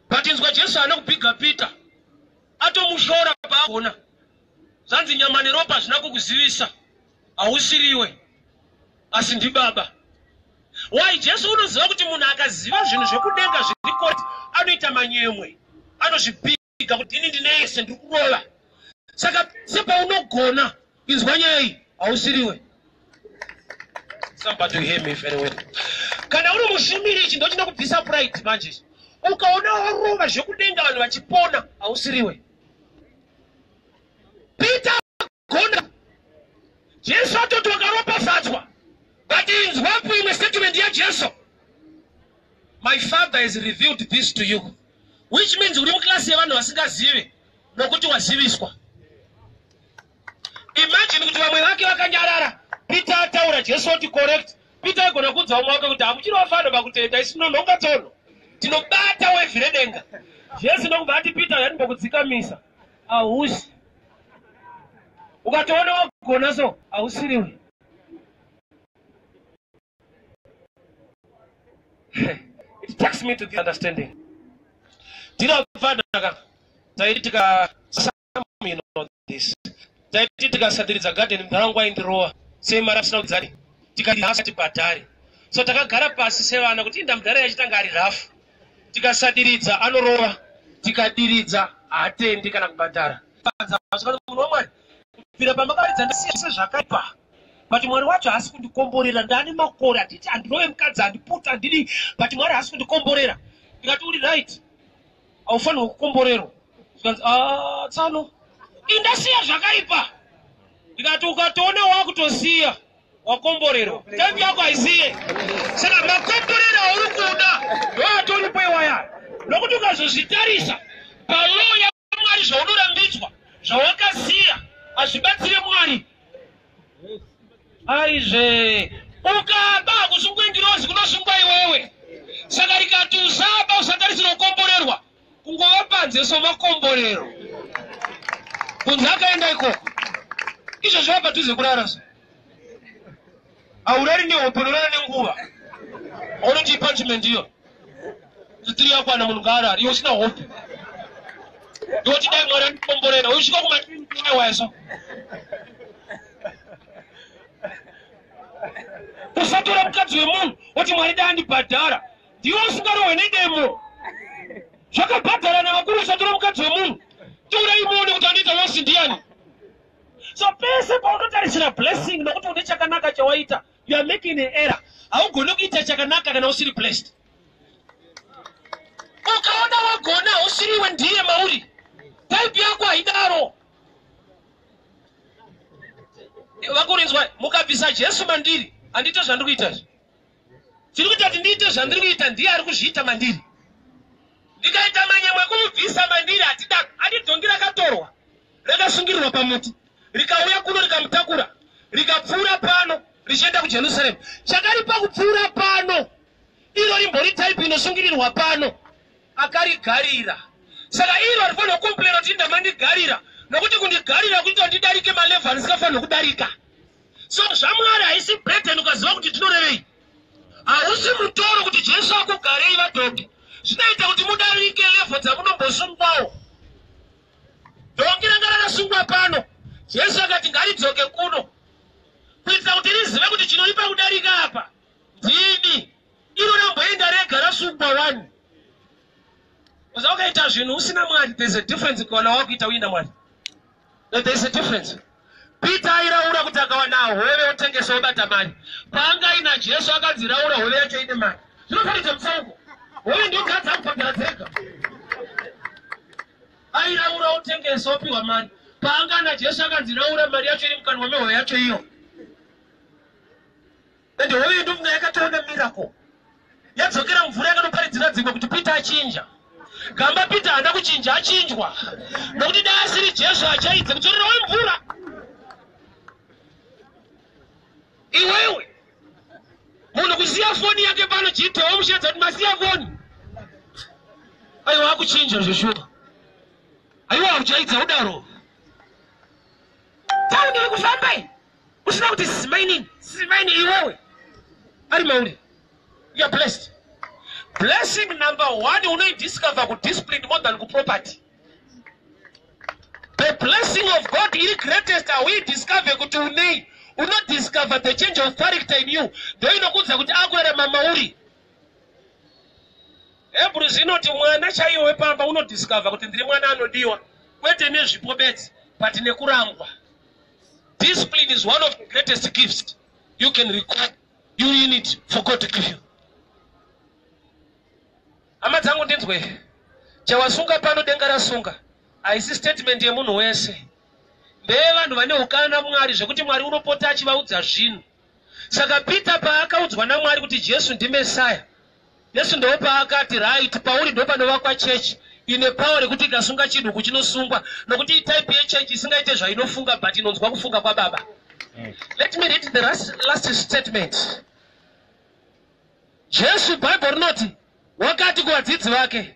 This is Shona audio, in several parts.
but inzwa jesu haana kubhiga peter atomushora paagona zvanzi nyama neropa hazvina kukuzivisa hausiriwe asi ndibaba why jesu unoziva kuti munhu akaziva zvinhu zvekudenga zviri koti anoita manyemwe anozvibhiga kuviga kuti ini ndine yese ndiri kurova saka sepaunogona inzwa nyaya iyi hausiriwe somebody hear me very well kana uri mushumiri ichi ndochinokubvisa pride manje ukaona warova zvekudenga vanhu vachipona hausiriwe peter Gonda. Jesu atoti wakaropafadzwa. But inzwa kuimwe statement yaJesu. My father has revealed this to you. Which means uri muklasi yevanhu vasingazivi nokuti waziviswa. Imagine kuti vamwe vake vakanyarara. Peter ataura Jesu oti correct. Peter aigona kuudza umwe wake kuti hamuchiri vafano pakutenda isi munonhonga tsono. Tinobata wevhi redenga. Jesu nokubva ati Peter yanimbokudzikamisa. hausi ukatoona wagona so hausiriwe it takes me to the understanding ndinobvanaka taiti tika you know this taiti tikasadiridza garden mdhara wangu aindirowa sei mari asina kudzani tikahasa tibhadhari so takagara pasi sevana kuti inda mdhara yachitanga ari rafu tikasadiridza anorova tikadiridza haatendi kana kubhadhara munhu wamwari kubvira pamakaridza ndasiya zvese zvakaipa but mwari wacho haasi kundikomborera ndani makore handiti handinove mukadzi handiputi handidi but mwari haasi kundikomborera ndikati uri right haufanirwa kukomborerwa zvikanzi ah, tsano indasiya zvakaipa ndikati ukatoona wakutosiya wakomborerwa time yako haisiye saka makomborero auri kuda ndoatoripo iwaya nokuti ukazozvitarisa palaw yamwari zvaunorambidzwa zvawakasiya hazvibatsire mwari aizve ukaba hakusungwe ngirozi kunosungwa iwewe saka rikati usaba usatarisira kukomborerwa kungova panze somakomborero kunze akaenda ikoko izvo zviva padhuze kurara so haurari nehope unorara nenguva aunotii punishment iyo zitiri yakwana munhu ngaarari iwe usina hope iwe tidai mwari andikomborera usvika kumaaiwaya so usatora mukadzi wemunhu woti mwari dai andibhadhara ndiwe usingarohwe nedemo zvakabhadhara nevakuru usatora mukadzi wemunhu tora imuone kuti anoita losi ndiyani so pese paunotarisira blessing nokuti une chakanaka chawaita you are making an error haugone kuita chakanaka kana usiri blessed ukaona wagona usiriwe ndiye mauri type yako haidaro vakurinzwa mukabvisa jesu mandiri handite zvandiri kuita izvi Chiri kuita kuti ndiite zvandiri kuita ndiye ari kuzviita mandiri. Ndikaita manyemwe ekumubvisa mandiri hatida ati dhongi rakatorwa rakasungirirwa pamuti rikauya kuno rikamutakura rikapfuura pano richienda kuJerusarema. Chakaripa kupfuura pano iro rimbori type inosungirirwa pano akarigarira. Saka iro rifanira kukomplaina kuti ndamandigarira nokuti kundigarira kuita ndidarike malevhu andisingafanira kudarika. so zvamwari haisi burden ukaziva kuti tinorevei hausi mutoro kuti jesu akugarei vadhoki zvinoita kuti mudarike levho dzamunombosungwawo dhoki ranga rakasungwa pano jesu akati ngaridzoke kuno kuitira kuti rizive kuti chinoripa kudarika apa ndini iro ramboenda rega rasungwa wani uza ukaita zvinhu usina mwari there's a difference kuona wakuita uina mwari And there's a difference. Peter airaura kuti akawana hove otengesa obata mari. Paanga ina Jesu akanzi raura hove yacho ine mari. Zvinofanira mutsauko. Hove ndio kadza kubhadhara dzega. Airaura otengesa opiwa mari. Paanga na Jesu akanzi raura mari yacho iri mukanwa mehove yacho iyo. And hoyo yedu mna yakatoona miracle yadzokera mvura yakanoparidzira dzimwe kuti peter achinja gamba peter haana kuchinja achinjwa nokuti dai asiri jesu achaidze kudzorera we mvura iwewe munhu kusiya foni yake pano chiitowo mushadza kuti masiya foni aiwa akuchinja zveshuwa aiwa uchaidza udaro tauniri kufamba Usina kuti simainini, simaini iwewe. Ari mauri. You are blessed. Blessing number one, you discover good discipline more than good property. The blessing of God is greatest. We discover good to name. You not discover the change of character in you. Though you know good that akwere mama uri. Hebrews inoti mwana chaiyo wepamba unodiscover kuti ndiri mwana anodiwa kwete nezvipo bedzi but nekurangwa Discipline is one of the greatest gifts you can require. You in it for God to give you. Hama dzangu ndinzwe. Chawasunga pano denga rasunga. Haisi statement yemunhu wese. Ndeye vanhu vane ukana Mwari zvekuti Mwari unopota achivaudza zvinhu. Saka Peter paakaudzwa naMwari kuti Jesu ndiMessiah, Jesu ndoo paakati right pauri ndopanovakwa church ine power rekuti ikasunga chinhu kuchinosungwa nokuti itype yechurch isingaite zvainofunga but inonzwa kufunga kwaBaba. Let me read the last, last statement. Jesu Bible rinoti wakati kuvadzidzi vake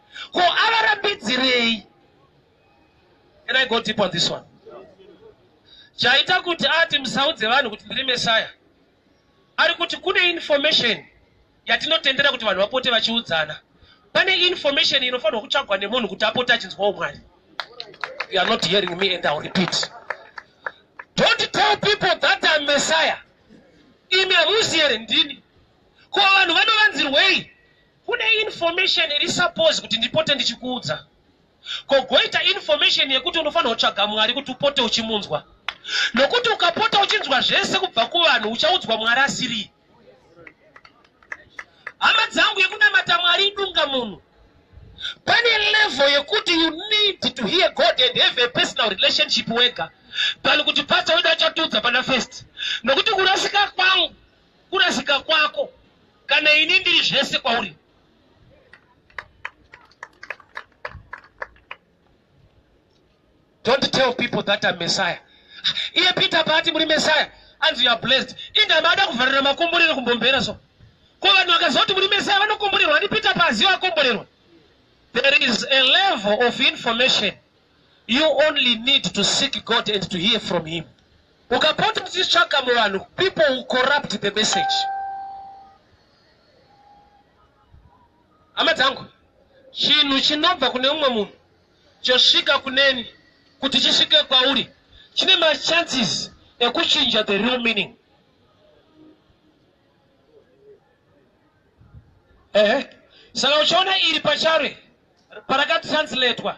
ko avarambidzirei can i go deep on this one chaita kuti ati musaudze vanhu kuti ndiri meshaya ari kuti kune information yatinotendera kuti vanhu vapote vachiudzana pane information inofanirwa kutsvagwa nemunhu kuti apote achinzwawo mwari you are not hearing me and ill repeat don't tell people that am messiah imi hamuzi here ndini ko vanhu vanovanzirwei Kune information iri suppose kuti ndipote ndichikuudza. Ko goita information yekuti unofanira kutsvaga Mwari kuti upote uchimunzwa. Nokuti ukapota uchinzwa zvese kubva kuvanhu uchaudzwa Mwari asiri. Hama dzangu yekunamata Mwari idunga munhu. Pane level yekuti you need to hear God and have a personal relationship wega. Tani kuti pastor wedu achatiudza pana first. Nokuti kurasika kwangu Kurasika kwako kana ini ndiri zvese kwauri. Don't tell people that I'm Messiah. Iye Peter paati muri Messiah, anzi you are blessed. Inda maada kuvharira makomborero kumbombera so. Ko vanhu vakazoti muri Messiah vanokomborerwa ndi Peter paaziva akomborerwa. There is a level of information You only need to seek God and to hear from him. Ukapota uchitsvaka muvanhu, people will corrupt the message. Hama dzangu, chinhu chinobva kune umwe munhu chosvika kuneni kuti chisvike kwauri chine machances ekuchinja the real meaning. Ehe. Saka uchiona iri pachare parakatranslatewa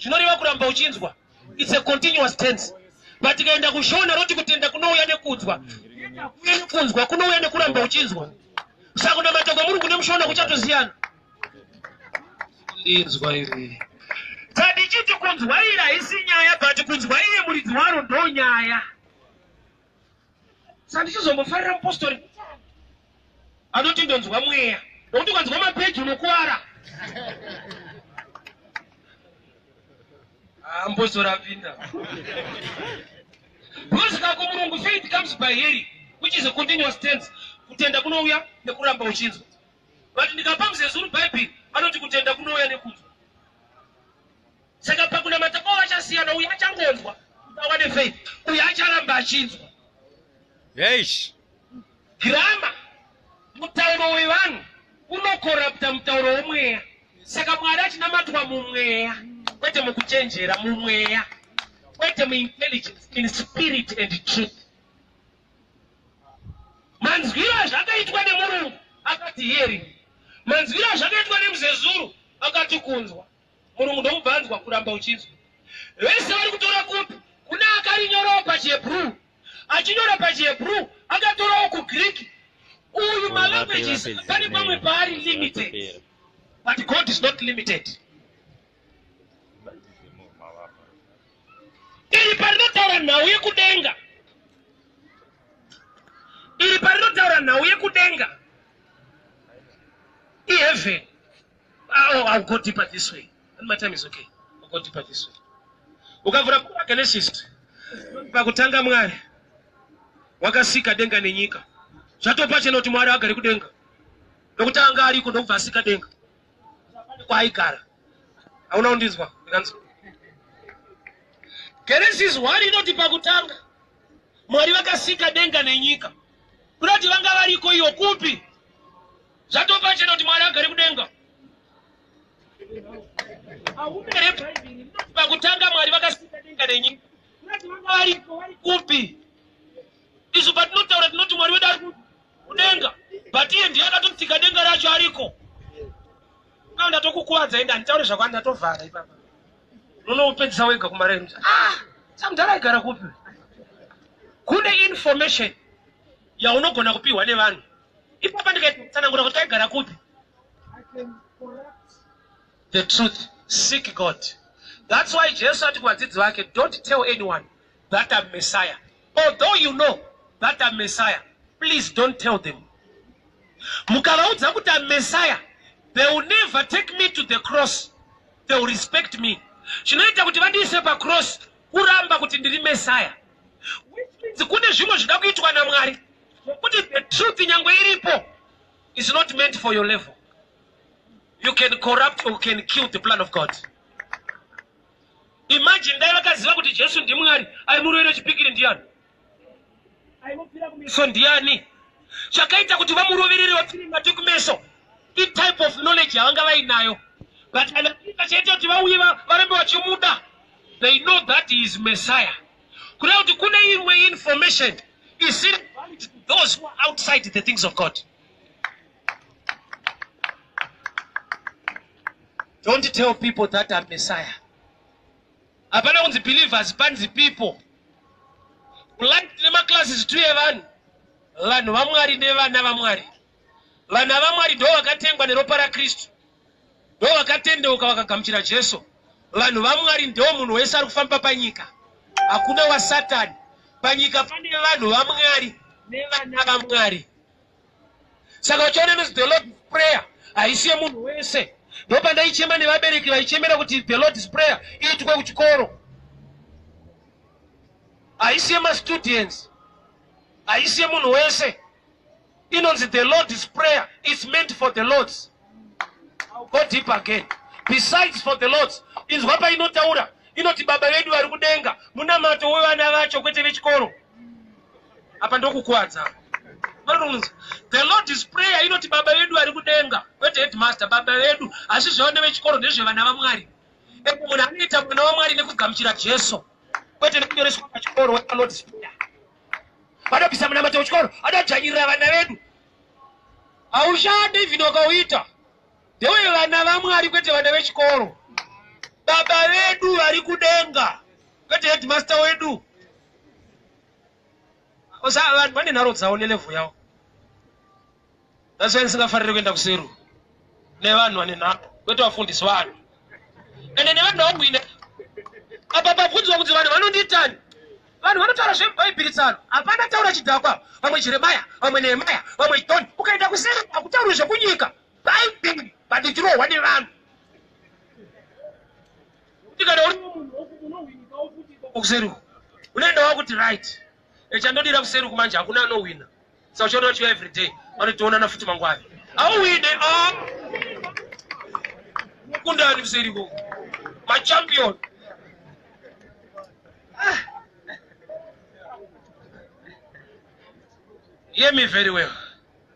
zvinoreva kuramba uchinzwa its a continuous tense but tikaenda kushona roti kutenda kunouya nekudzwa kunzwa kunouya nekuramba uchinzwa saka kunamata kwamurungu nemushona kuchatosiyana ndinzwa iri tandichiti kunzwa iri haisi nyaya but kunzwa iye muridzi waro ndonyaya sandichizombofarira mupostori anoti ndonzwa mweya nokuti ukanzwa mapeji unokuwara ah, mupostori apinda bhozika kumurungu faith comes by hearing which is a continuous tense kutenda kunouya nekuramba uchinzwa but ndikapa muzezuru bhaibheri anoti kutenda kunouya nekunzwa saka pakunamata kwavo vachasiyana uye achangonzwa awane faith uye acharamba achinzwa eish girama mutauro wevanhu unokorapta mutauro womweya saka mwari achinamatwa mumweya kwete mukuchenjera mumweya kwete muintelligence in spirit and truth manzwiro azvakaitwa nemurungu akati hearing manzwiro azvakaitwa nemuzezuru akati kunzwa Murungu ndomubva anzwa kuramba uchinzwa. Vese vari kutora kopi kuna akarinyorawo pachiHebrew. Achinyora pachiHebrew akatorawo kuGreek. Uyu malanguages pane pamwe paari limited. But God is not limited. Iri parinotaura nhau yekudenga. Iri parinotaura nhau yekudenga. IHeaven. Oh, I'll go deeper this way. And my time is okay. I'll go deeper this way. Ukavura kura Genesis. Pakutanga Mwari wakasika denga nenyika. Zvatopa chena kuti Mwari agari kudenga. Ndokutanga ariko ndokubva asika denga. Kwaigara. Hauna kundinzwa? Ndikanzwa. Genesis 1 inoti pakutanga Mwari vakasika denga nenyika. Kunoti vanga variko iyo kupi? Zvatopachena kuti Mwari agari kudenga. Ahume here Bhaibheri rinoti pakutanga Mwari vakasika denga nenyika. Kunati vanga varipo vari kupi? Isu patinotaura tinoti Mwari wedu ari kudenga. But iye ndiye akatotsika denga racho ariko. Kana ndatokukuvadza enda nditaure zvako ndatovhara ipapa. Unopedzisa wega kumaremu. Ah, samudhara aigara kupi? Kune information yaunogona kupiwa nevanhu Ipapa ndikaiti kutsanangura kuti aigara kupi. The truth, seek God. That's why Jesu ati kuvadzidzi vake, don't tell anyone that I'm Messiah. Although you know that I'm Messiah, please don't tell them. Mukavaudza kuti I'm Messiah, they will never take me to the cross. They will respect me. Zvinoita kuti vandiise pacross kuramba kuti ndiri Messiah. Which means kune zvimwe zvinoda kuitwa naMwari. Kuti the truth nyangwe iripo is not meant for your level. You can corrupt or can kill the plan of God. Imagine dai vakaziva kuti Jesu ndimwari aimurovera chipikiri ndiyani? Aimupira kumeso ndiyani? Chakaita kuti vamuroverere vapfire mate kumeso itype of knowledge yavanga vainayo but anapika chaita kuti vauye varambe vachimuda they know that he is messiah kureva kuti kune imwe information isiri valid to those who are outside the things of god don't tell people that am messiah hapana kunzi believers panzi people kulandi nemaclasses tuye vanhu vanhu vamwari nevana vamwari Vanhu avamwari ndo vakatengwa neropa raKristu ndo vakatendeuka vakagamuchira Jesu. Vanhu vamwari ndo munhu wese ari kufamba panyika. Hakuna wasatani. Panyika pane vanhu vamwari nevana vamwari. Saka uchiona inonzi the Lord's prayer haisi yemunhu wese. Ndo pandaichema nevabereki vaichemera kuti the Lord's prayer iitwe kuchikoro. Haisi yemastudents. Haisi yemunhu wese. inonzi the lord's prayer is meant for the lords go deep again besides for the lords inzwa painotaura inoti baba vedu vari kudenga munamato wevana vacho kwete vechikoro apa ndokukwadza the lord is prayer inoti baba vedu vari kudenga kwete headmaster baba vedu asi zvevana vechikoro ndezvevana vamwari eko munhu anoita mwana wamwari nekugamuchira jesu kwete nekunyoreswa pachikoro wepa lord's prayer vanobvisa munamato wechikoro anodzvanyirira vana vedu haushande even wakauita ndewe vana vamwari kwete vana vechikoro baba vedu vari kudenga kwete headmaster wedu vanhu vane nharo dzavo nelevho yavo That's why ndisingafarire kuenda kuseru nevanhu vane nhamo kwete vafundisi vanhu ende nevanhu vakuine apa pabvunzwa kuti vanhu vanonditani vanhu vanotaura zvebhaibhiri tsano hapana taura chidhakwa vamwe jeremaya vamwe nehemaya vamwe joni ukaenda kuseru hakutaurwe zvekunyika bhaibhiri bandichirohwa nevanhu kuti kana uri munhu unohwinika wokuti kuseru unoenda wakuti right echandodira kuseri uku manje hakuna anowina saka uchaona chiva every day vanotoonana futi mangwari auwine ah! kundani kuseri ko machampion ah! hear me very well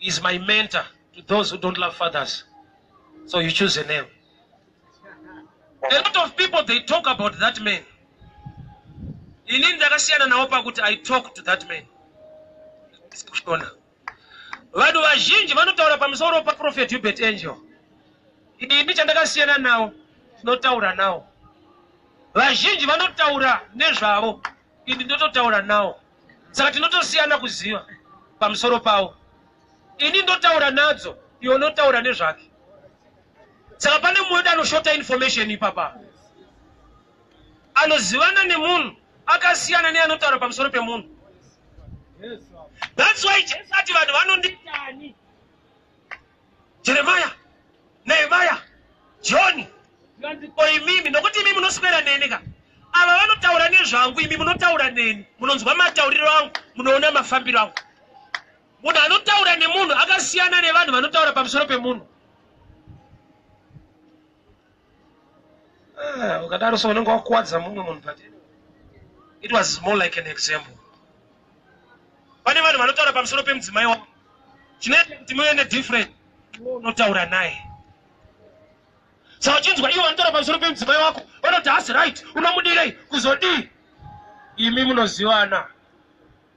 is my mentor to those who don't love fathers so you choose a name a lot of people they talk about that man ini ndakasiyana nawo pakuti i talk to that man kushona vanhu vazhinji vanotaura pamusoro paprofet hubert angel ini chandakasiyana nawo tinotaura nawo vazhinji vanotaura nezvavo ini ndototaura nawo saka tinotosiyana kuziva pamusoro pawo ini ndotaura nadzo iwo notaura nezvake saka pane mumwe wedu anoshota information ipapa anozivana nemunhu akasiyana neanotaura pamusoro pemunhu that's why jesu ati vanhu vanonditani jeremaya nehemaya joni ko imimi nokuti imimi munoswera neni ka ava vanotaura nezvangu imi munotaura neni munonzwa matauriro angu munoona mafambiro angu munhu anotaura nemunhu akasiyana nevanhu vanotaura pamusoro pemunhu Ah, ukadaro so unenge wakuwadza mumwe munhu but it was more like an example pane vanhu vanotaura pamusoro pemudzimai wavo chinoita kuti muve nedifferent iwe unotaura naye sa uchinzwa ivo vanotaura pamusoro pemudzimai wako vanoti hasi right unomudirei kuzodii imi munozivana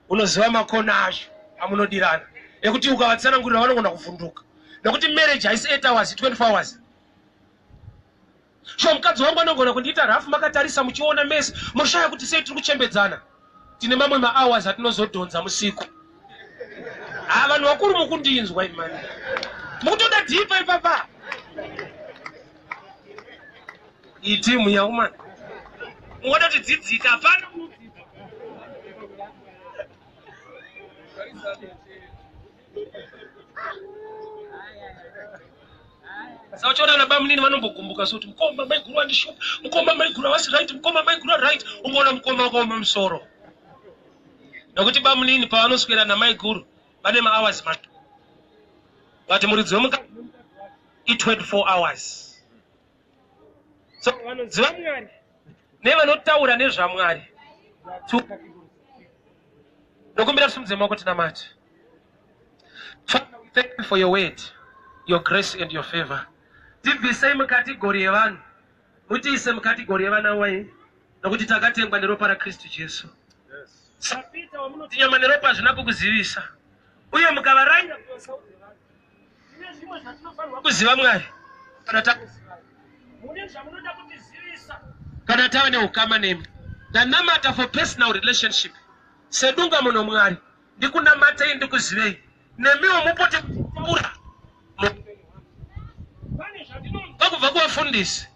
unoziva makona acho amunodirana ekuti ukavatsanangurira vanogona kuvhunduka nekuti marriage haisi 8 hours 24 hours shuwa mukadzi wangu anogona kundiita rafu makatarisa muchiona mese moshaya kuti sei tiri kuchembedzana tine mamwe mahours atinozodhonza musiku ha ah, vanhu vakuru mukundinzwa imani mukutoda dhipa ipapa itimu yaumani ungoda kuti dzidzika hapana saka uchiona ana bamunini vanombogumbuka so kuti mukoma maiguru andishupa mukoma maiguru havasi right mukoma maiguru aright ungoona mukoma wakaoma musoro nokuti bamunini pavanoswera namaiguru vane mahours mato vati muridzi wemukati i24 hours so vanoziva mwari nevanotaura nezvamwari ndokumbira tisimudze maoko tinamati thank you for your word your grace and your favor tibvisei mukategori yevanhu mutiise mukategori yevana wai nokuti takatengwa neropa rakristu jesu sapita wamunoti nyama neropa hazvina kukuzivisa uye mukavaranga kuvasaudze vanhu kuziva mwari kana kana tave neukama nemi ndanamata for personal relationship sedunga muno mwari ndikunamatei ndikuzivei nemiwo mupote kutaura vakubva kuvafundisi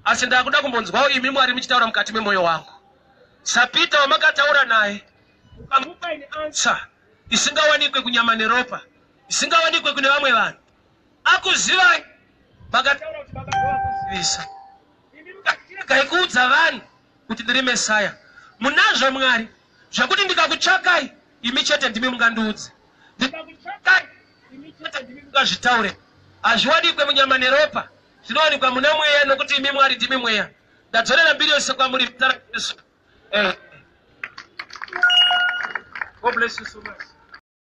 asi ndakuda kumbonzwawo imi mwari muchitaura mukati memwoyo wangu sapita wamakataura naye ukamupaine ansa isingawanikwe kunyama neropa zvisingawanikwe kune vamwe vanhu akuzivai makataura kuti baba ndovakuzivisa imi mukatiregai kuudza vanhu kuti ndiri mesaya munazvo mwari zvekuti ndikakutsvakai imi chete ndimi mungandiudze ndikakutsvakai imi chete ndimi mungazvitaure hazviwanikwe munyama neropa zvinowanikwa muna mweya nokuti imi mwari ndimi mweya ndadzorera mbiri yose kwamuri mutara jesu eh. God bless you so much.